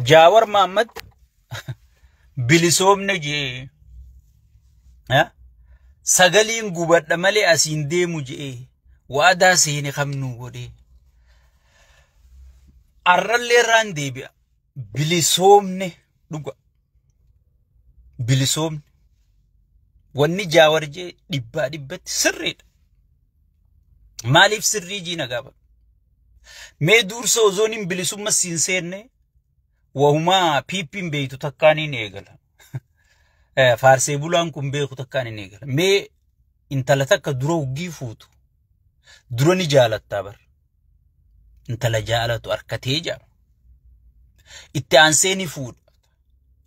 Jaawar Maammad bilisoomne jee sagaliin gubadha malee asiin deemu jee waadaa seene kamnuu godhee. Arrallee irraan deebi'a bilisoomne dhuga. bilisoomni wanni jaawar jee dhibbaa dhibbatti sirriidha. Maaliif sirrii jii na gaafadhu. Mee duursa ozoon hin bilisumma siin seenne wahumaa piippiin beeytu takkaan hin eegala. Faarsee bulaan kun beeku takkaan hin eegala. Mee intala takka dura huggii fuutu dura ni jaalattaa bar. intala jaalatu arkatee jaa itti aansee ni fuudha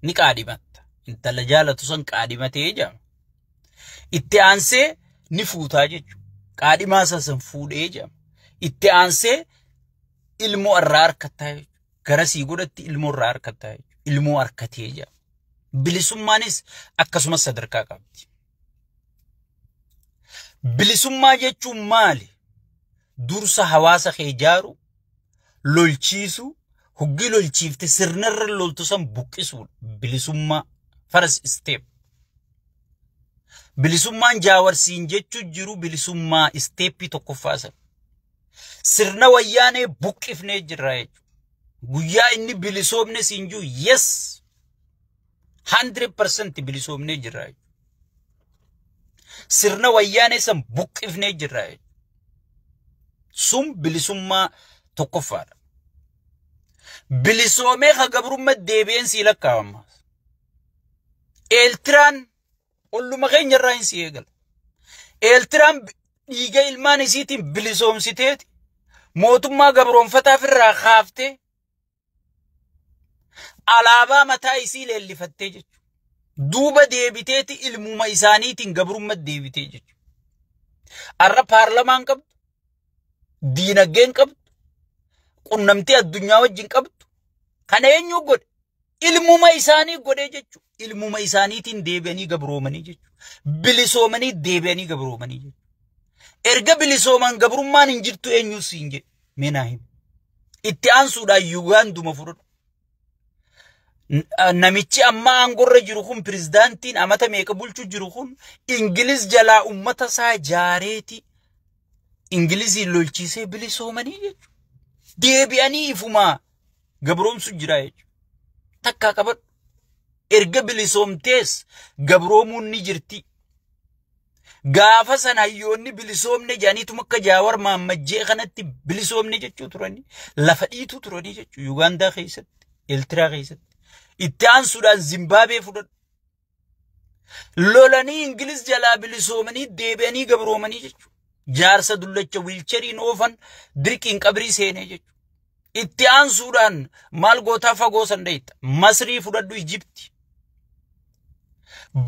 ni qaadhimatta intala jaalatu san qaadhimatee jaa itti aansee ni fuutaa jechuudha qaadhimaa isaa san fuudhee jaa itti aansee ilmoo irraa arkattaa jechuudha garasii godhatti ilmoo irraa arkattaa jechuudha ilmoo arkatee jaa bilisummaanis akkasumas sadarkaa qabdi. Bilisummaa jechuun maali? Dursa hawaasa kee ijaaru, lolchiisu, hoggii lolchiifte sirnarra loltu san buqqisuudha. Bilisummaa first step. Bilisummaan jaawarsiin jechuu jiru bilisummaa isteeppii tokkoffaa sana. Sirna wayyaanee buqqifnee jirra jechuudha. Guyyaa inni bilisoomne siin jiru yes 100% bilisoomnee jirra jechuudha. Sirna wayyaanee san buqqifnee jirra jechuudha. Sun bilisummaa tokkoffaadha. Bilisoomee ka gabrummaa deebi'een sii lakkaa'ama. Eeltiraan olluma keenya irraa hin si eegala. Eeltiraan dhiiga ilmaan isiitiin bilisoomsiteeti mootummaa gabroonfataaf irraa kaaftee Alaabaa mataa isii leellifattee jechuudha. Duuba deebiteeti ilmuma isaaniitiin gabrummaa deebitee jechuudha. Har'a paarlamaan qabdu, diinagdeen qabdu, qunnamtii addunyaa wajjin qabdu, kana eenyu godhe? Ilmuma isaanii godhee jechuudha. Ilmuma isaaniitiin deebi'anii gabroomanii jechuudha. Bilisoomanii deebi'anii gabroomanii jechuudha. Erga bilisooman gabrummaan hin jirtu eenyus hin jedhu. Mee naa himi. Itti aansuudhaan Yugaanduma fudhadhu. Namichi amma aangorra jiru kun pirezidaantiin amata meeqa bulchu jiru kun Ingiliz jalaa ummata isaa jaareeti Ingiliziin lolchiisee bilisoomanii jechuudha. Deebi'anii ifumaa gabroomsu jira jechuudha. Takkaa qabadhu. Erga bilisoomtees gabroomuun ni jirti. Gaafa san hayyoonni bilisoomne jedhaniitum akka Jaawar Maammajjee kanatti bilisoomne jechuu turanii lafa dhiituu turanii jechuu Yugaandaa keessatti, Eeltiraa keessatti. Itti aansuudhaan Zimbaabee fudhadhu. Lolanii Ingiliz jalaa bilisoomanii deebi'anii gabroomanii jechuu. Jaarsa dullacha wiilcheriin oofan dirqiin qabrii seenee jechuu. Itti aansuudhaan maal gootaa fagoo san dhayita. Masrii fudhadhu Ijibti.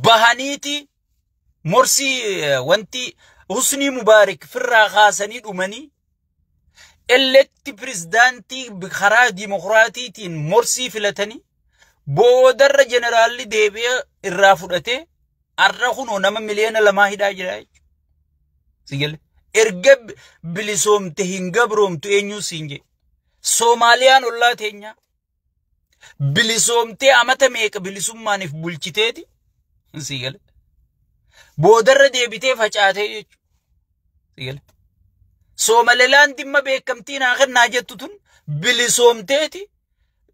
Bahaniiti Morsii eh, wanti Husnii Mubaarik firraa kaasanii dhumanii elekti pirezidaantii karaa dimokiraatiitiin morsii filatanii boodarra jeneraalli deebi'ee irraa fudhatee har'a kunoo nama miliyoona lamaa hidhaa jira jechuudha. Si galee? Erga bi- bilisoomte hin gabroomtu eenyuun siin jedhe. Soomaaliyaan ollaa teenyaa. bilisoomtee amata meeqa bilisummaaniif bulchiteeti sii gale boodarra deebitee facaatee jechuudha sii gale soomalelaan dhimma beekamtii naa kennaa jettu tun bilisoomteeti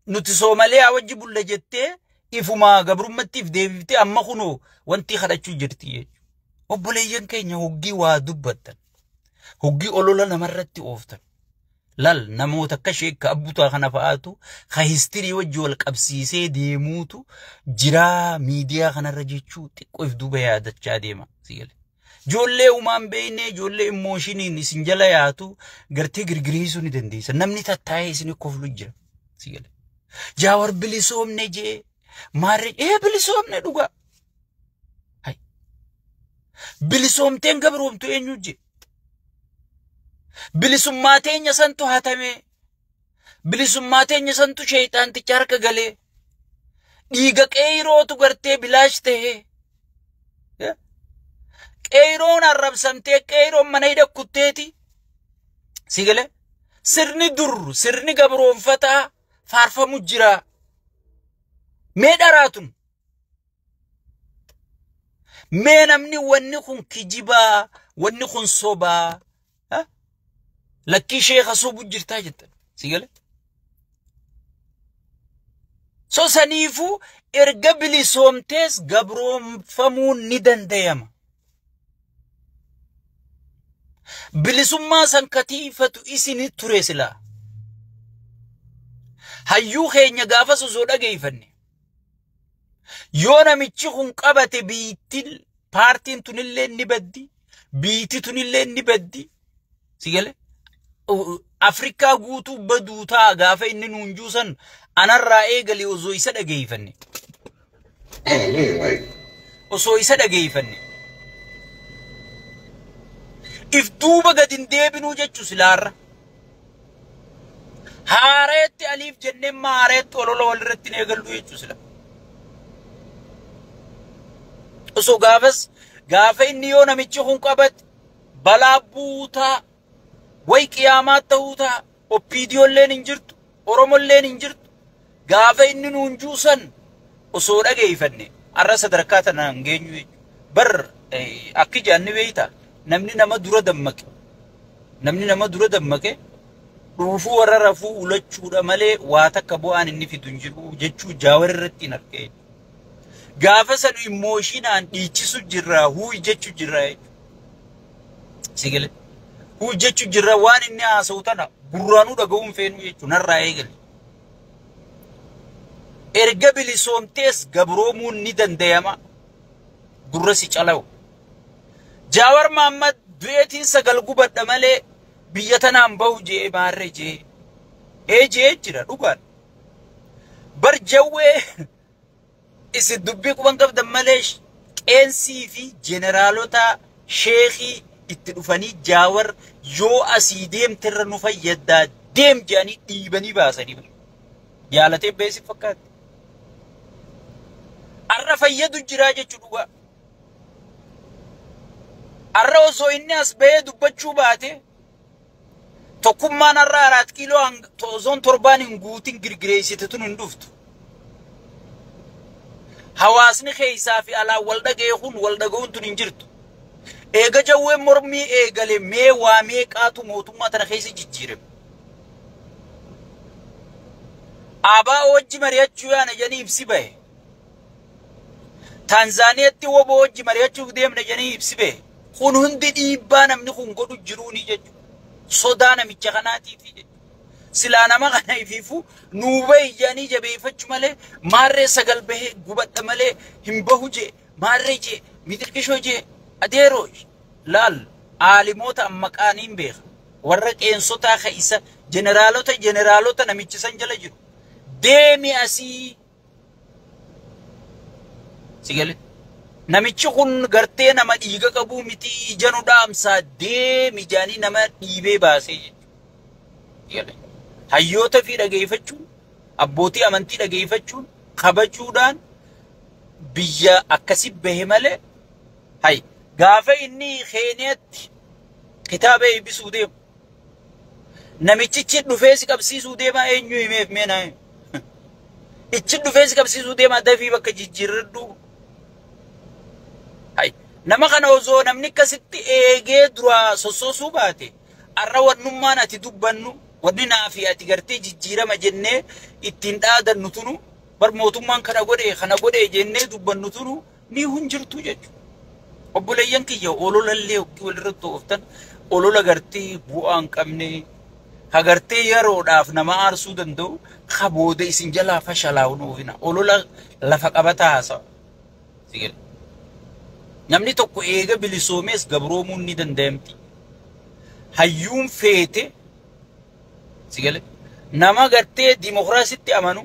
nuti soomalee wajji bulla jettee ifumaa gabrummattiif deebiftee amma kunoo wanti kadhachuu jirti jechuudha obboleeyyan keenya hoggii waa dubbattan hoggii olola namarratti ooftan Lal namoota akka sheekka abbutaa kana fa'aatu ka histirii wajji wal qabsiisee deemuutu jiraa miidiyaa kanarra jechuu xiqqoo if duuba yaadachaa deema. Si gale. Ijoollee umaan beeknee ijoollee immooshiiniin isin jala yaatu gartee girgiriisuu ni dandeessa. Namni tattaa'ee isin koflu jira. Si gale. Jaawar bilisoomne jee maarree ee bilisoomne dhugaa. Hai. Bilisoomteen gabroomtu eenyu jee. Bilisummaa teenya santu hatamee. Bilisummaa teenya santu sheeyxaanticha harka galee. Dhiiga qeeyrootu gartee bilaash ta'ee. Qeeyroon arrabsamtee qeeyroon mana hidha kutteeti. Si galee? Sirni dur sirni gabroonfataa faarfamu jira. Mee dharaatun Mee namni wanni kun kijibaa, wanni kun sobaa, ha? lakkii sheeka sobu jirtaa jettan. Si gale? So saniifuu erga bilisoomtees gabroomfamuun ni dandayama. Bilisummaa san katiifatu isin ture silaa. Hayyuu keenya gaafas osoo dhageeyfanne. Yoo namichi kun qabate biittin paartiin tunillee ni baddi. Biitti tunillee ni baddi. Si galee? Afrikaa guutuu baduu ta'a gaafa inni nuun juusan anarraa eegalee osoo isa dhageeyfanne. Osoo isa dhageeyfanne. If duuba gad hin deebinuu jechuu silaarra. Haareetti aliif jennee amma haareetti olola walirratti hin eegallu jechuu sila. Osoo gaafas gaafa inni yoo namichi kun qabate balaa buutaa way qiyaamaa ta'uu ta'a. Oppiidiyoolleen hin jirtu, Oromolleen hin jirtu. Gaafa inni nuun juu san osoo dhageeyfanne arra sadarkaa tanaan hin geenyu jechu. Bar akki jedhan ni beeyta namni nama dura dammaqe namni nama dura dammaqe dhuufuu warra rafuu ulachuudha malee waa takka bu'aan inni fidu hin jiru jechuu jaawar irratti hin argee. Gaafa sanu immooshinaan dhiichisu jirra huuy jechu jirra jechu. Sigale. Huuy jechu jirra waan inni haasa'u tana gurraanuu dhaga'uu hin feenu jechu narraa eegale. Erga bilisoomtees gabroomuun ni dandayama. Gurra si calawu. Jaawar Maammad du'eetiin sagal gubadha malee biyya tanaan bahu jee maarre jee. Ee jee jira dhugaan. Bar jawwee Isin dubbii quban qabdan malee qeensii fi jeneraalotaa sheekii itti dhufanii jaawar yoo asii deemte irra nu fayyaddaa deem jedhanii dhiibanii baasanii bar. Jaalatee bahee si fakkaatti. Arra fayyadu jiraa jechuu dhugaa. Arra osoo inni as bahee dubbachuu baate Tokkummaan har'a Araat Kiiloo ozoon torbaan hin guutin girgireessite tun hin dhuftu. Hawaasni keessaa fi alaan wal dhaga'ee kun wal dhaga'uun tun hin jirtu. Eega jawween mormii eegale mee waa meeqaatu mootummaa tana keessa jijjiirame. Abaa wajji mari'achuu yaana jedhanii ibsi bahe. Taanzaaniyaatti woboo wajji mari'achuuf deemna jedhanii ibsi bahe. Kun hundi dhiibbaa namni kun godhu jiruuni jechuudha. Sodaa namicha kanaatiifi jechuudha. Silaa nama kana ifiifuu nuu bahi jedhanii jabeeffachu malee maarree sagal bahee gubadha malee hin bahu jee maarree jee mixiqishoo jee adeeroo laal aalimoota ammaqaaniin beeka. Warra qeensotaa ka isa jeneraalota jeneraalota namichi san jala jiru. Deemi asii Sigale. Namichi kun gartee nama dhiiga qabuu miti ija nu dhaamsaa deemi jaanii nama dhiibee baasee jechuudha. Hayyoota fi dhageeffachuun abbootii amantii dhageeffachuun kabajuudhaan biyya akkasi bahe malee hay gaafa inni keeniyatti kitaaba eebbisuu deemu Namichichi dhufee si qabsiisuu deemaa eenyu himeef mee naa himi. Ichi dhufee si qabsiisuu deemaa dafii bakka jijjiirradhu. Hay. Nama kana osoo namni akkasitti eegee duraa sossoosuu baate arra wannummaan ati dubbannu wanni naa fi ati gartee jijjiirama jennee ittiin dhaadannu tunu bar mootummaan kana godhe kana godhe jennee dubbannu tunu ni hun jirtu jechuudha. Obboleeyyan kiyya ololallee hoggii walirratti ooftan olola gartee bu'aa hin qabne hagartee yeroodhaaf nama aarsuu danda'u ka booda isin jalaa fashalaa'u hin oofina. Olola lafa qabataa haasa'a. Si gale. Namni tokko eega bilisoomees gabroomuun ni danda'amti. Hayyuun feete si gale. Nama gartee dimokiraasitti amanu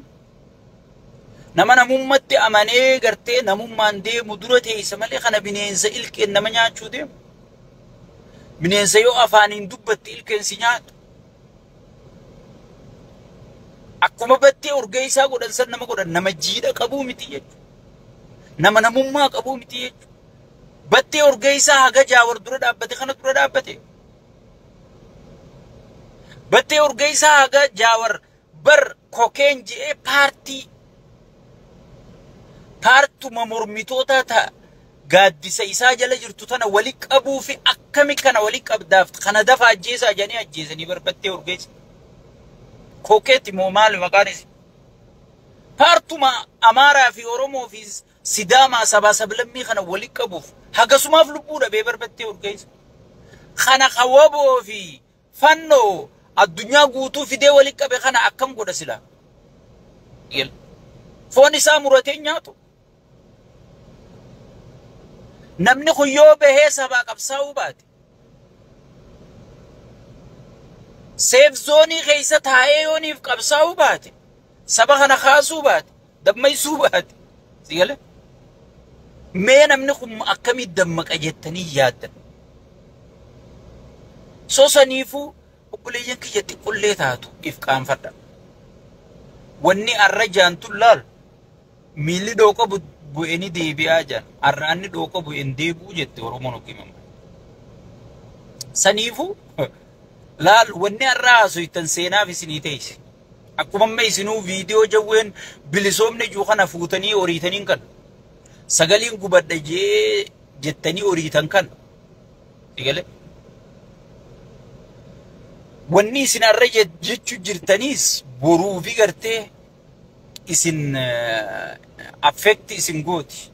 Nama namummatti amanee gartee namummaan deemu dura teessa malee kana bineensa ilkeen nama nyaachuu deemu. Bineensa yoo afaaniin dubbatti ilkeen si nyaatu. Akkuma battee urgeessaa godhan san nama godhan nama jiidha qabuu miti jechuudha. Nama namummaa qabuu miti jechuudha. Battee urgeessaa haga jaawar dura dhaabbate kana dura dhaabbate. Battee urgeessaa haga jaawar Bar kokeen je'ee paartii paartuma mormitootaa ta gaaddisa isaa jala jirtu tana wali qabuufi akkami kana wali qabdaaf kana dafa ajjeesaa jedhanii ajjeesanii bar battee urgeessa. Kokeeti moo maali maqaan isi? Paartuma Amaaraa fi Oromoo fi Sidaamaa sabaa sablammii kana wali qabuuf hagasumaaf lubbuu dhabee bar battee urgeessa. Kana ka waboo fi Fanno addunyaa guutuu fidee wali qabe kana akkam godha sila? Yel. Foon isaa muratee nyaatu. Namni kun yoo bahee sabaa qabsaa'uu baate. Seef zoonii keessa taa'ee yooniif qabsaa'uu baate. Saba kana kaasuu baate. Dammaysuu baate. Si gale? Mee namni kun akkamii dammaqa jettanii yaaddan. So saniifuu obboleeyyan kiyya xiqqollee taatu if qaanfadha. Wanni arra jaantun laal miilli dhooqa bu- bu'e ni deebi'aa jaan. Arraanni dhooqa bu'e hin deebi'u jette Oromoon okkii mamma. Saniifuu laal wanni arra haasoytan seenaaf isinii teeyse. Akkuma amma isinuu viidiyoo jawween bilisoomne juu kana fuutanii oriitaniin kan sagaliin gubadha jee jettanii oriitan kan sigale wanni isin arra jechu jirtaniis boruu fi gartee isin affeekti isin gooti.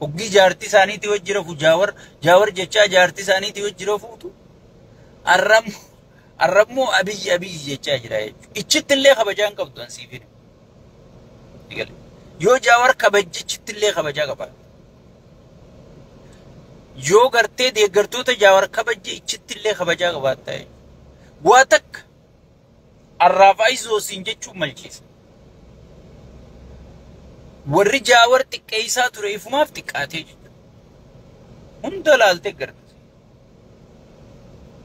Hoggi jaartii isaaniitii wajji rafu jaawar jaawar jechaa jaartii isaaniitii wajji rafuutu arram arrammoo abiyyi abiyyi jechaa jira jechuudha. Ichitti illee kabajaa hin qabdu ansiif hin. Yoo jaawar kabajji ichitti illee kabajaa qaba. Yoo gartee deeggartoota jaawar kabajji ichitti illee kabajaa qabaatta jechuudha. Waa takka Arraaf ayizoo siin jechuun malchiisa. Warri jaawar xiqqeessaa ture ifumaaf xiqqaatee jechuudha. Hunda laaltee gargaarsa.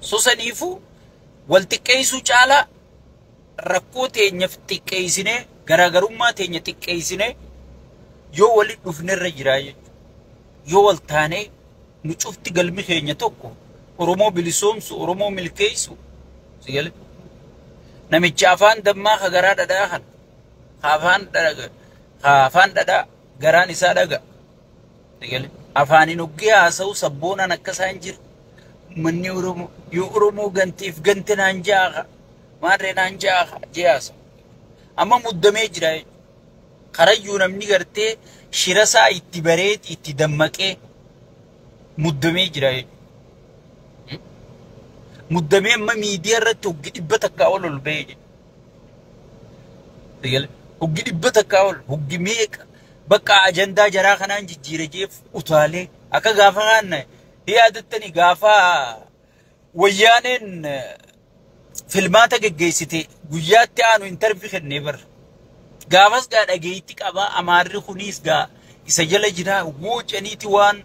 Sosaniifuu wal xiqqeessuu caalaa rakkoo teenyaf xiqqeessinee garaagarummaa teenya xiqqeessinee yoo walitti dhufnerra jiraa jechuudha. Yoo wal taanee Nu cufti galmi keenya tokko. Oromoo bilisoomsu, Oromoo milkeessu. Si gale? Namichi afaan dammaa ka garaa dhadhaa kan. Ka afaan dhaga, ka afaan dhadhaa garaan isaa dhaga. Si gale? Afaaniin hoggee haasa'u sabboonaan akka isaan jiru. Manni Oromoo yoo Oromoo ganteef gante naan ja'a ka. Maarree naan ja'a ka. Jee haasa'u. Amma muddamee jira jechuudha. Karayyuu namni gartee shirasaa itti bareeti itti dammaqee muddamee jira jechuudha. Muddamee amma miidiyaa irratti hoggi dhibba takkaa ol ol ba'ee jira. Sigale hoggi dhibba takkaa ol hoggi meeqa bakka ajandaa jaraa kanaan jijjiira jeef utaalee akka gaafa kaanna yaadattani gaafa Wayyaaneen filmaata geggeessite guyyaatti aanu intarvi kennee bar. Gaafas gaa dhageetti qaba amaarri kunis gaa isa jala jira wuu ceniiti waan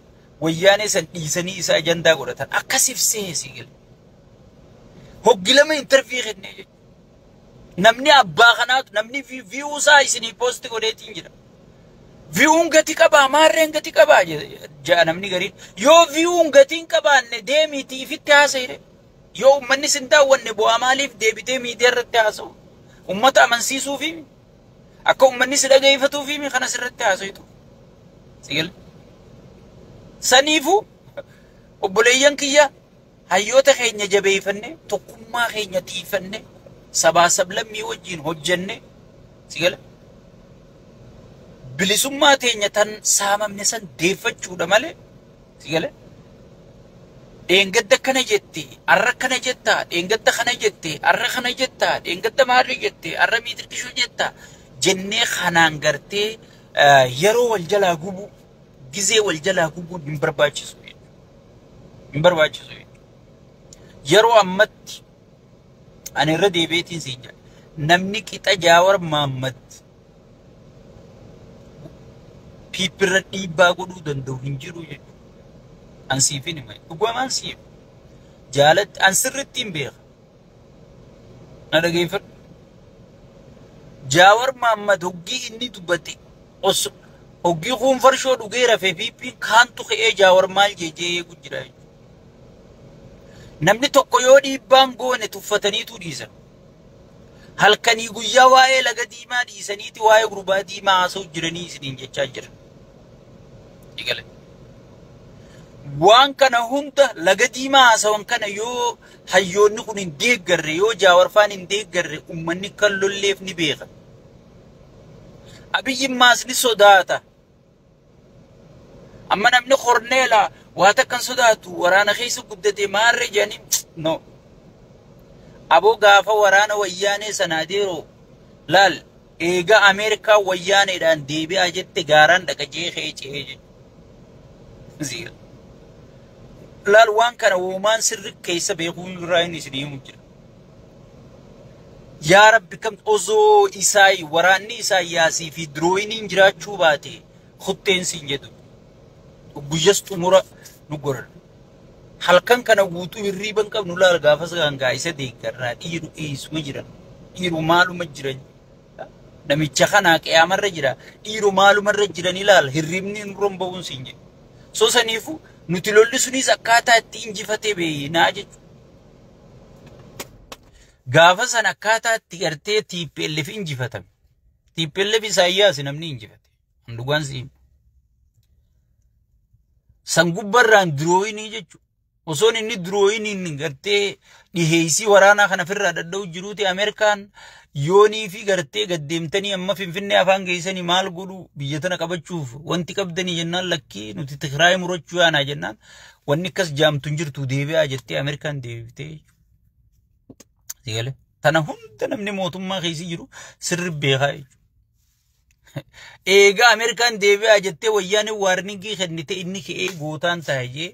wayyaanee san dhiisanii isa ajandaa godhatan akkasif sehe si gale. Hoggi lama intarvii kennee jechuudha. Namni abbaa kanaatu namni viyuu isaa isinii poosti godheetiin jira. Viyuun gati qabaa maarreen gati qabaa ja'a namni gariin. Yoo viyuun gati hin qabaanne deemiitii ifitti haasa'ire. Yoo uummanni sin daawwanne bu'aa maaliif deebitee miidiyaa irratti haasa'u? Uummata amansiisuufi akka uummanni si dhageeffatuufi kanas irratti haasa'itu. Sigil. Saniifuu obboleeyyan kiyya Hayyoota keenya jabeeyfannee, tokkummaa keenya tiiyfannee, sabaa sablammii wajjiin hojjannee, si gale? Bilisummaa teenya tan saamamne san deeffachuudha malee, si gale? Dheengadda akkana jette, arra akkana jetta, dheengadda kana jette, arra kana jetta, dheengadda maarree jette, arra miitirqishoo jetta, jennee kanaan gartee yeroo wal jalaa gubuu, gizee wal jalaa gubuun hin barbaachisu jechuudha. Hin barbaachisu jechuudha. Yeroo ammatti ani irra deebi'eetiin siin jedha. Namni qixa Jaawar Maammad piippirra dhiibbaa godhuu danda'u hin jiru jechuudha. An siifin hima. Dhugumaan siif. Jaalatti an sirriitti hin beeka. na dhageeffadhu. Jaawar Maammad hoggii inni dubbate os hoggii kuun farshoo dhugee rafee piippiin kaantu ka'ee Jaawar maal jeejee eegu jira. Namni tokko yoo dhiibbaan goone tuffataniitu dhiisan. Halkanii guyyaa waa'ee laga diimaa dhiisaniiti waa'ee gurbaa diimaa haasa'u jiranii isiniin jechaa jira. Waan kana hunda laga diimaa haasawan kana yoo Hayyoonni kun hin deeggarre yoo Jaawar faan hin deeggarre ummanni akka hin lolleef ni beeka. Abiyyi maas ni sodaata. Amma namni korneela waa takka hin sodaatu waraana keessa guddate maarree jedhanii no. Aboo gaafa waraana wayyaanee sanaa deeroo laal Eega Ameerikaan wayyaaneedhaan deebi'aa jette gaaraan dhaqa je'ee ka'ee cehee jechuudha. Ziira. Laal waan kana woomaan sirri keessa beekuu hin irraa inni isin himu jira. Yaa Rabbi kam osoo isaayi waraanni isaayyaasii fi dirooyiniin jiraachuu baate kutteen siin jedhu. Guyyas xumura nu godhan. halkan kana guutuu hirriiba hin qabnu laal gaafas gaangaa isa deeggarraa dhiiru eessuma jira dhiiru maaluma jira namicha kanaa qiyaamarra jira dhiiru maalumarra jiran ilaal hirriibni hin romba'uun siin jedhu so saniifu nuti lolli sunis akkaataa itti injifatee beeynaa jechuudha. Gaafa san akkaataa itti gartee TPLF injifatame. TPLF Isaayyaas namni injifate. Hin dhugaan siin. San gubbarraan dirooyinii jechuudha. Osoon inni dirooyiniin gartee dhiheessii waraanaa kana ofirraa dadha'u jiruuti Ameerikaan yoonii fi gartee gaddeemtanii amma Finfinnee afaan geessanii maal godhu biyya tana qabachuuf wanti qabdanii jennaan lakkii nuti Tigraay murachuu yaanaa jennaan wanni akkas jaamtu hin jirtu deebi'aa jettee Ameerikaan deebitee jechuudha. Tana hunda namni mootummaa keessa jiru sirri beekaa jechuudha. Eegaa Ameerikaan deebi'aa jettee wayyaaneen waarningii kennite inni ka'ee gootaan taa'e jee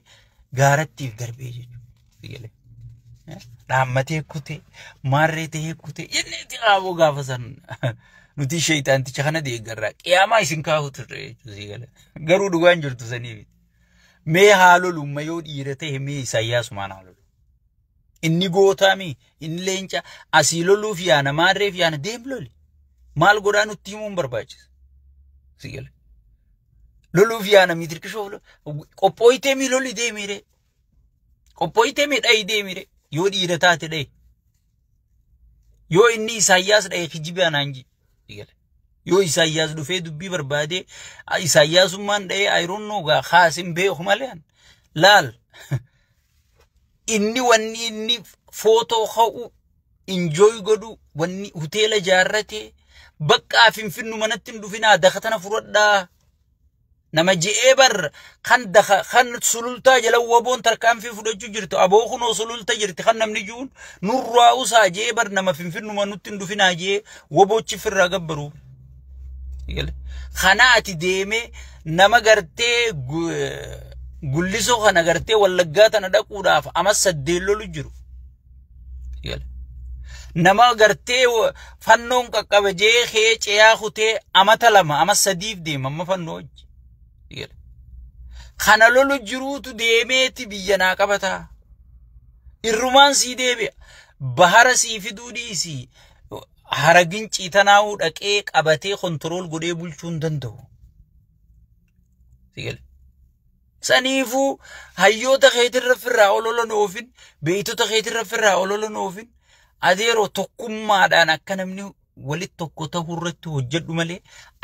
gaarattiif darbee jechuudha. Dhaammatee kutee maarree ta'ee kutee jennee itti qaaboo gaafa san nuti sheeyxaanticha kana deeggarraa qiyaamaa isin kaa'u turre jechuudha. Garuu dhugaan jirtu saniif mee haalolumma yoo dhiira ta'e mee isaayyaasumaan haalolu. Inni gootaami, inni leenca asii loluuf yaana, maarreef yaana deem loli. Maal godhaa nutti himuun barbaachisa. Si gale. Loluuf yaana mii dirqishoof lo- qophooyitee mii loli deemiiree. Qophooyitee mii dhayi deemiiree. Yoo dhiira taate dhayi. Yoo inni Isaayyaas dhaye kijibe anaan ji. Si gale. Yoo Isaayyaas dhufee dubbii barbaadee a- Isaayyaasummaan dhayee ayiroon noogaa kaasin beeku malee an. laal. inni wanni inni footoo ka'u injooy godhu wanni hoteela ijaarrate baqqaa finfinnu manatti hin dhufinaa daka tana fudhadhaa nama je'ee bar kan daka kan sulultaa jala waboon tarkaanfii fudhachuu jirtu aboo kunoo sululta jirti kan namni ji'uun nurraa usaa je'ee bar nama finfinnuma nutti hin dhufinaa je'ee waboochi firraa gabbaruu. Kana ati deemee nama gartee gullisoo kana gartee wallaggaa tana dhaquudhaaf amas saddeen lolu jiru. Nama gartee fannoon qaqqabe jee kee ceeyaa kutee amata lama amas sadiif deema amma fannoo hojji. Kana lolu jiruutu deemeeti biyya naa qabataa. Irrumaan sii deebi'a. Bahara sii fiduu dhiisii. Haragin ciitanaa'uu dhaqee qabatee kontirool godhee bulchuu hin danda'u. Sigale. Saniifuu hayyoota keetirra firraa ololan oofin, beeytota keetirra firraa ololan oofin, adeeroo tokkummaadhaan akka namni walitti tokko ta'uu irratti hojjedhu malee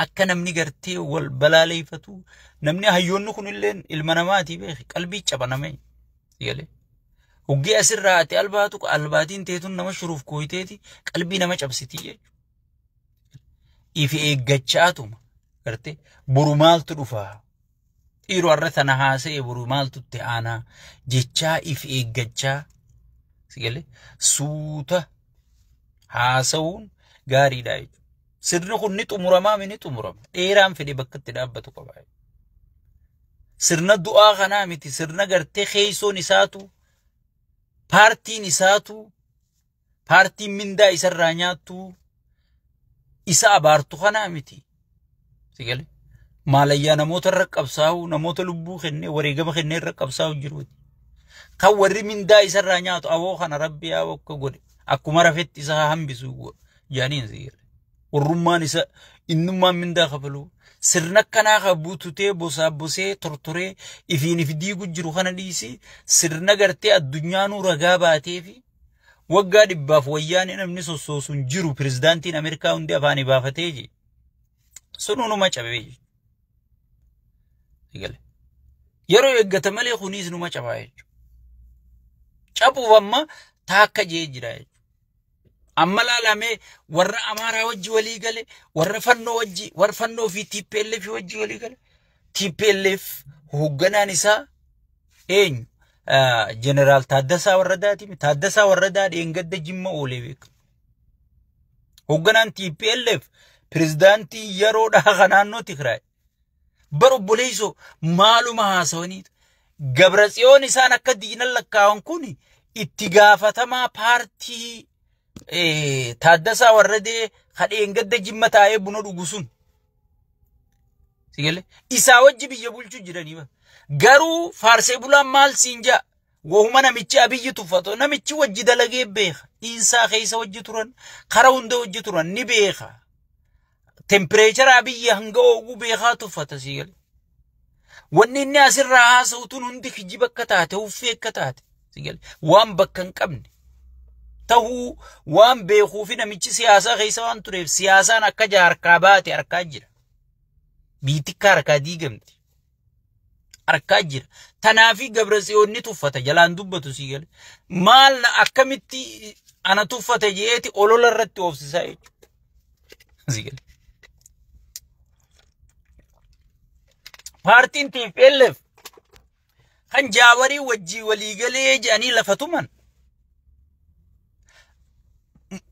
akka namni gartee wal balaaleeffatu namni hayyoonni kunillee ilma namaati beeki qalbii cabaname. Sigalee. Hoggee asirraa ati albaatu albaatiin teetun nama shuruuf kooyiteeti qalbii nama cabsiti jechuudha. Ifi eeggachaatuma gartee boru maaltu dhufaa dhiiroo har'a tana haasa'e boru maaltu itti aanaa jechaa ifi eeggachaa sigalee suuta haasa'uun gaariidha jechuudha. Sirni kun ni xumuramaa mi ni xumurama. Dheeraan fedhe bakka itti dhaabbatu qaba. Sirna du'aa kanaa miti sirna gartee keessoon isaatu paartiin isaatu paartiin mindaa isarraa nyaattu isa abaartu kanaa miti. Sigale maalayyaa namoota irra qabsaa'u namoota lubbuu kennee wareegama kennee irra qabsaa'u jiru. Kan warri mindaa isarraa nyaatu awoo kana rabbi yaa akka godhe akkuma rafetti isa haa hambisu jaaniin si jedhe. Warrummaan isa innummaan mindaa kafalu sirna akkanaa kan buututee bosaa bosee tortoree ifiin if diigu jiru kana dhiisi sirna gartee addunyaanuu ragaa baatee fi waggaa dhibbaaf wayyaanee namni sossoosuun jiru pirezidaantiin Ameerikaa hundi afaanii baafatee je. Sun hunuma cabee je. Eegale. Yeroo eeggata malee kunis numa cabaa jechuudha. Cabuuf amma taakka jee jira jechuudha. Amma laalamee warra Amaaraa wajji walii gale, warra fannoo wajji, warra fannoo fi TPLF wajji walii gale. TPLF hoogganaan isaa eenyu? Ah, Jeneraal Taaddasaa Warradaati. Taaddasaa Warradaa dheengadda jimma oolee beeka. Hoogganaan TPLF pirezidaantii yeroodhaa kan naannoo Tigraay. Bar obboleessoo maaluma haasawaniitu. Gabra tsiyoon isaan akka diinan lakkaa'an kun itti gaafatamaa paartii eh, Taaddasaa Warradee kadheen gadda jimma taa'ee buna dhugu sun. Sigale isaa wajji biyya bulchuu jiranii bar. Garuu faarsee bulaan maal siin jaa? Wahuma namichi abiyyi tuffatu namichi wajji dalagee beeka. Dhiinsaa keessa wajji turan, kara hunda wajji turan ni beeka. tempireecharaa biyya hanga ooguu beekaa tuffata sii galee. Wanni inni asirraa haasa'u tun hundi kijiba akka taate, huffee akka taate sii galee. Waan bakka hin qabne. Tahuu waan beekuu fi namichi siyaasaa keessa waan tureef siyaasaan akka jaarkaa baate harkaa jira. Biitikkaa harkaa diigamti. arkaa jira. Tanaafi gabra tsiyoon ni tuffata jalaan dubbatu sii gale. Maal na akkamitti ana tuffata jeeti olola irratti oofsisaa jechuudha. Sii gale. Paartiin TPLF kan jaawarii wajjii walii galee jedhanii lafa tuman.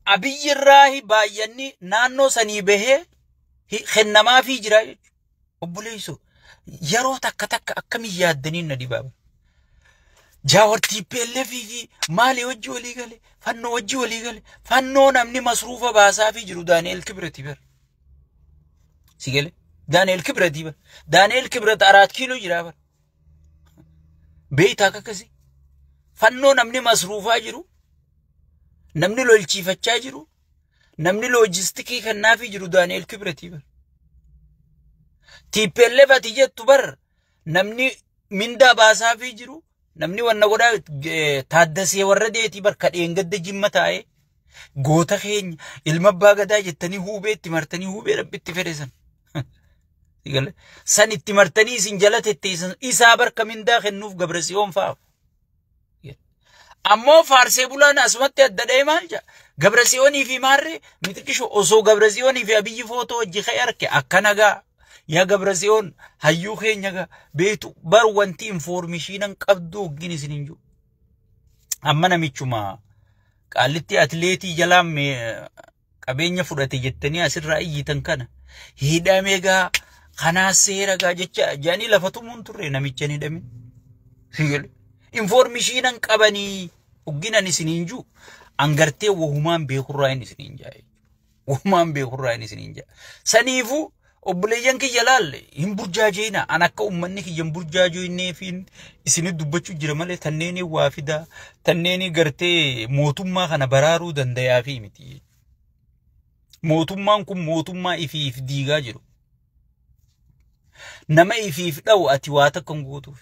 Abiyyi irraa baay'anni naannoo sanii bahee kennamaa fi jira jechuudha. Obboleessoo yeroo takka takka akkamiin yaaddaniin na dhibaaba. Jaawar TPLF fi maalii hojii walii gale fannoo hojii walii gale fannoo namni masruufa baasaa fi jiru Daani'el Kibirati bara. Si gale Daani'el Kibirati bara. Daani'el Kibirati araat kiiloo jira bara. Beeytaa akka akkasii. Fannoo namni masruufaa jiru namni lolchiifachaa jiru Namni loojistikii kennaafii jiru Daani'el Kibretii bar. TPLF ati jettu bar namni mindaa baasaafii jiru namni wanna godhaa eh, taaddasee warra deetii bar kadheen gadda jimma taa'ee goota keenya ilma abbaa gadaa jettanii huubee itti martanii huubee rabbi itti fedhe san. Gale. San itti martanii isin jala tetteessan isaa barka mindaa kennuuf gabrasiyoon fa'aaf. Ammoo faarsee bulaan asumatti adda dha'ee maal jedha? Gabra Tsiyoonii fi Maarree mixiqisho osoo Gabra Tsiyoonii fi Abiyyi footoo hojii ka'e arke akka nagaa. Yaa Gabra Tsiyoon hayyuu keenya gaa beektu bar wanti infoormishiinan qabdu hoggin isin hin jiru. Amma namichuma qaallitti atileetii jalaan qabeenya fudhate jettanii asirraa iyyitan kana hidhame gaa kanaa seera gaa jecha jedhanii lafa tumuun turre namicha hin hidhamin. Sigal. Informishiinan qabanii hogginan isiniin juu angartee wahumaan beekurraa hin isiniin jaa. Wahumaan beekurraa hin isiniin jaa. Saniifuu Obboleeyyan kiyya laal hin burjaajeeyina an akka ummanni kiyya hin burjaajeeyneefiin isinit dubbachuu jira malee tanneenii waa fidaa tanneenii gartee mootummaa kana baraaruu dandayaafii miti. Mootummaan kun mootummaa ifiif diigaa jiru. Nama ifiif dha'u ati waa takka hin gootuuf.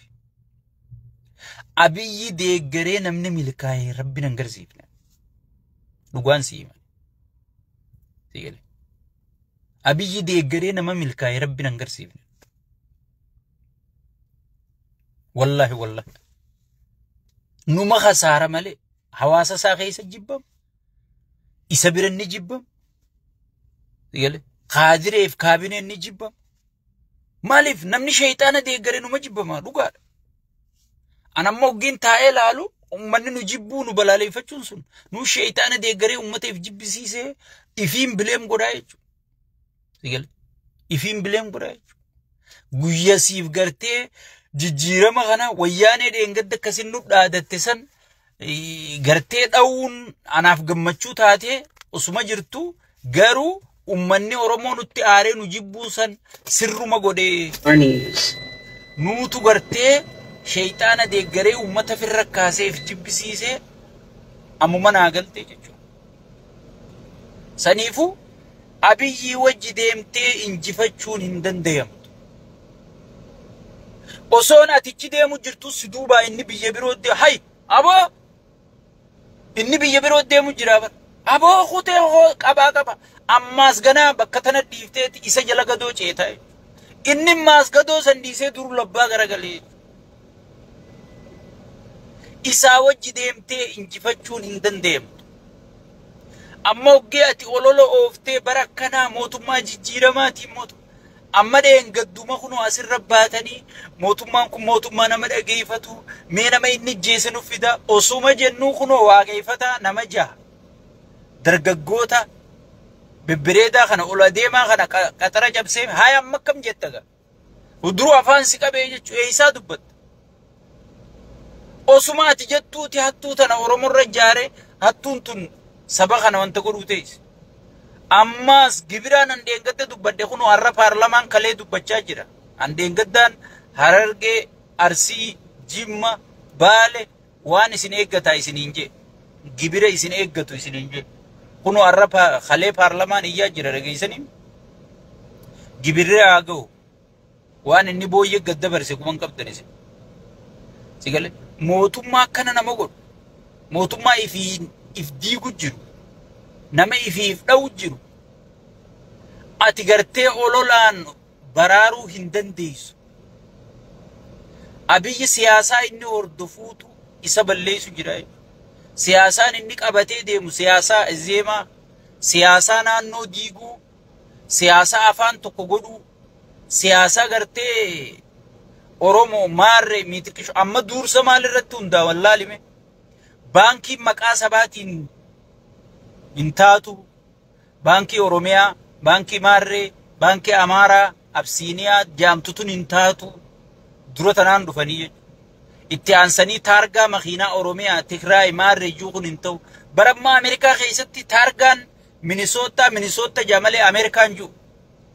Abiyyi deeggaree namni milkaa'ee rabbi nan garsiifne. Dhugaan siima. Siigale. Abiyyi deeggaree nama milkaa'e rabbi nan garsiifne. Wallaahi wallaahi. Numa hasaara malee hawaasa isaa keessa jibbamu. Isa bira ni jibbamu. Galee kaadireef kaabineen ni jibbamu. Maaliif namni sheeyxaana deeggaree numa jibbamaa dhugaadha. Anamma oggiin taa'ee laalu ummanni nu jibbuu nu balaaleffachuun sun nu sheeyxaana deeggaree ummateef jibbisiisee ifiin bileem godhaa jechuudha. Sigale ifiin bileem godhaa jechuudha. Guyya siif gartee jijjiirama kana wayyaanee dheengadda akkasin nu dhaadatte san gartee dha'uun anaaf gammachuu taatee osuma jirtu garuu ummanni Oromoo nutti aaree nu jibbuun san sirruma godhee nuutu gartee sheeyxaana deeggaree ummata firra kaaseef jibbisiisee ammuma naa galtee jechuudha. Saniifuu abiyyii wajji deemtee injifachuun hin dandayamtu. Osoon ati ichi deemu jirtu si duubaa inni biyya biroo deemu. Hay! Aboo! Inni biyya biroo deemu jira bar. Aboo kutee hoo qabaa qaba. Ammaas ganaa bakka tana dhiifteeti isa jala gadoo ceeta. Inni maas gadoo san dhiisee dur labbaa garagalee. Isaa wajji deemtee injifachuun hin dandeemtu. Amma hoggee ati olola ooftee bara akkanaa mootummaa jijjiiramaatiin mootummaa. Amma dheengadduma kunoo asirra baatanii mootummaan kun mootummaa nama dhageeffatu mee nama inni ijjeese nuuf fida osuma jennuu kunoo waaqeeffataa nama jaha dargaggoota bibbireedaa kana ol adeemaa kana qa- qaxara cabsee haaya amma akkam jetta gaa. Duruu afaan si qabee jechuun eessaa dubbatta. Osuma ati jettuuti hattuu tana Oromorra ijaare hattuun tun saba kana wanta godhuu teessi. Ammaas gibiraan handeengadda dubbadhe kunoo har'a paarlamaan kalee dubbachaa jira. Handeengaddaan Harargee, Arsii, Jimma, Baale waan isin eeggataa isiniin jee. Gibira isin eeggatu isiniin jee. Kunoo har'a pa- kalee paarlamaan iyyaa jira dhageessanii gibirri haa ga'u. Waan inni booyyee gad dabarse quban qabdan isin. Sigale mootummaa akkana nama godhu mootummaa ifii if diigu jiru nama ifii if dha'u jiru ati gartee ololaan baraaruu hin dandeessu. Abiyyi siyaasaa inni hordofuutu isa balleessu jira. Siyaasaan inni qabatee deemu siyaasaa zeemaa, siyaasaa naannoo diiguu, siyaasaa afaan tokko godhuu, siyaasaa gartee Oromoo maarree miitiqishu amma duursa maalirratti hundaa wallaalime baankiin maqaa sabaatiin hin taatu baankii Oromiyaa baankii maarree baankii Amaaraa Absiiniyaa jaamtutun hin taatu dura tanaan dhufanii jechuudha. Itti aansanii taargaa makiinaa Oromiyaa Tigraay maarree iyyuu kun hin ta'u. Bara ammaa Ameerikaa keessatti taargaan Minisootaa Minisootta jamalee Ameerikaan jiru.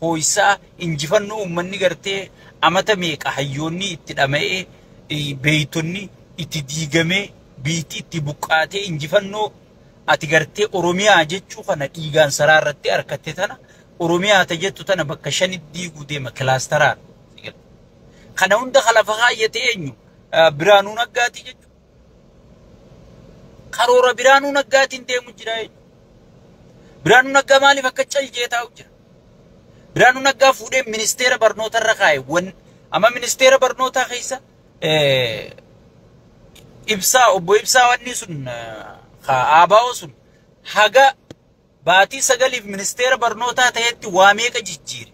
ho'isaa injifannoo uummanni gartee amata meeqa hayyoonni itti dhama'ee eh, beeytonni itti diigamee biitti itti buqqaatee injifannoo ati gartee Oromiyaa jechuu kana dhiigaan saraa irratti harkatte tana Oromiyaa ta jettu tana bakka shanitti diiguu deema kilaastaraan. Kana hunda kan lafa kaayyate eenyu? Eh, Birhaanuu Naggaatii jechuudha. Karoora Biraanuu Naggaatiin deemu jira eenyu? Biraanuu Naggaa maaliif akka cal jee taa'u jira? Biraanuu Naggaa fuudhee ministeera barnoota irra kaa'e. Wan amma ministeera barnootaa keessa eh, ibsaa obbo ibsaa wanni sun eh, ka aabaa'oo sun haga Baatii sagaliif ministeera barnootaa ta'etti waa meeqa jijjiire?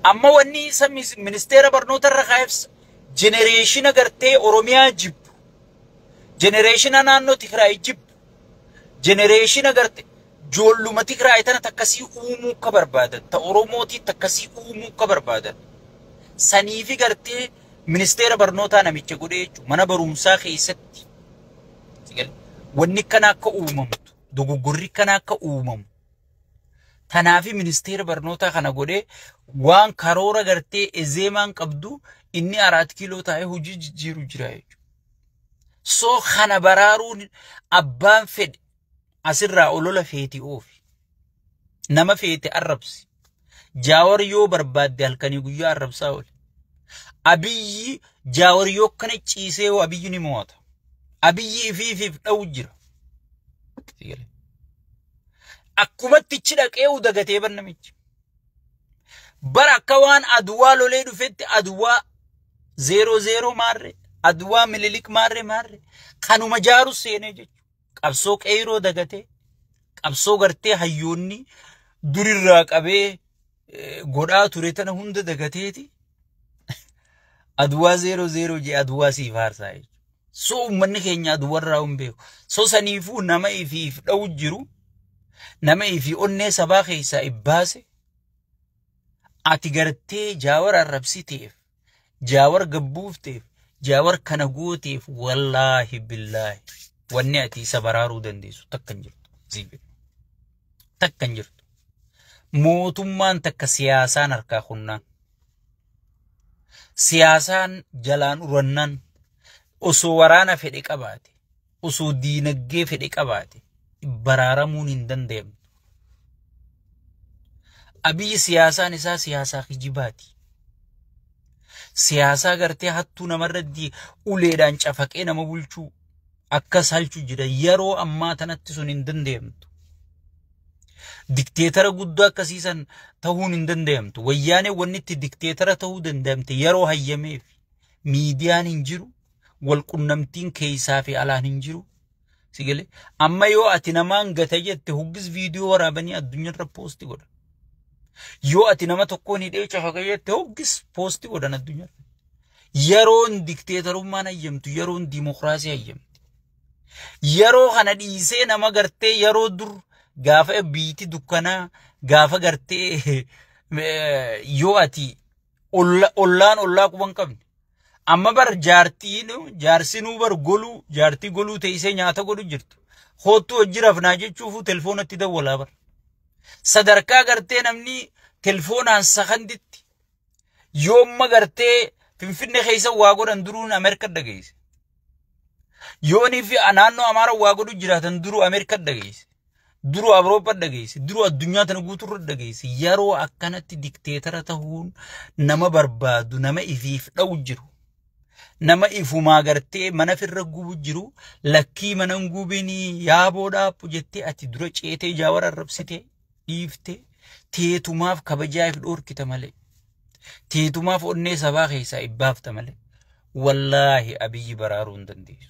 Amma wanni isa mis- ministeera barnootarra kaa'eef jenereeshina gartee Oromiyaa jibbu, jenereeshina naannoo Tigraay jibbu, jenereeshina garte joolluma Tigraay tana takkasii uumuu akka barbaadan, ta Oromootii takkasii uumuu akka barbaadan. Saniifi gartee Ministeera barnootaa namicha godhee jechuun mana barumsaa keessatti wanni akkana akka uumamtu dogoggorri akkana akka uumamu tanaafi ministeera barnootaa kana godhee waan karoora gartee ezeemaan qabdu inni araat kiiloo taa'ee hojii jijjiiru jira jechuudha. So kana baraaruun abbaan fedhe asirraa olola feeti oofi. Nama feete arrabsi. Jaawar yoo barbaadde halkanii guyyaa arrabsaa oole. Abiyyi jaawar yoo kana ciisee hoo abiyyi ni mo'ata. Abiyyi ifiifiif dha'u jira. Akkumatti ichi dhaqee u dagatee bar namichi. Bara akka waan aduwaa lolee dhufetti aduwaa zeeroo zeeroo maarree aduwaa mililik maarree maarree kanuma jaaru seenee jechuudha. qabsoo qeeyroo dagatee qabsoo gartee hayyoonni durirraa qabee eh, godhaa ture tana hunda dagateeti aduwaa zeeroo zeeroo jee aduwaa siif haarsaa jechuudha. So uummanni keenya aduwarraa hin beeku. So saniifuu nama ifiif dha'u jiru nama ifi onnee sabaa keessaa ibbaase ati gartee jaawara arrabsiteef jaawar gabbuufteef jaawar kana gooteef wallaahi billaahi wanni ati isa baraaruu dandeessu takka hin jirtu siin jedhe takka hin jirtu mootummaan takka siyaasaan harkaa kunnaan siyaasaan jalaan urannaan osoo waraana fedhe qabaate osoo diinaggee fedhe qabaate baraaramuun hin danda'amne. Abiyyi siyaasaan isaa siyaasaa kijibaati. Siyaasaa gartee hattuu namarratti uleedhaan cafaqee nama bulchuu akkas halchu jira. Yeroo ammaa tanatti sun hin danda'amtu. Dikteetara guddaa akkasii san ta'uun hin danda'amtu. Wayyaanee wanni itti dikteetara ta'uu danda'amte yeroo hayyameef miidiyaan hin jiru, wal qunnamtiin keessaa fi alaan hin jiru. Sigale amma yoo ati namaan gata jette hoggis viidiyoo waraabanii addunyaarra poosti godha. Yoo ati nama tokkoon hidhee cafaka jette hoggis poosti godhan addunyaarra. Yeroon dikteetarummaan hayyamtu yeroon diimokiraasii hayyamti. Yeroo kana dhiisee nama gartee yeroo dur gaafa biiti dukkanaa gaafa gartee yoo ati olla- ollaan ollaa quba hin qabne. Amma bar jaartiin jaarsinuu bar goluu jaartii goluu teessee nyaata godhu jirtu. Hoottuu hojii rafnaa jechuufuu telefoonatti dawwalaa bar. Sadarkaa gartee namni telefoonaan sakanditti yoomma gartee Finfinnee keessa waa godhan duruun Ameerika dhageesse. Yoonii fi naannoo Amaara waa godhu jiraatan duruu Ameerika dhageesse. Duru Awurooppaa dhageesse, duru addunyaa tana guuturra dhageesse. Yeroo akkanatti dikteetara tahuun nama barbaadu, nama ifiif dha'u jiru. Nama ifumaa gartee mana firra gubu jiru, lakkii mana hin gubinii, yaaboo dhaabbu jettee ati dura ceetee jaawara arrabsitee dhiiftee teetumaaf kabajaa if dhoorkita malee. Teetumaaf onnee sabaa keessaa ibbaafta malee. Wallaahi abiyyi baraaruu hin dandeessu.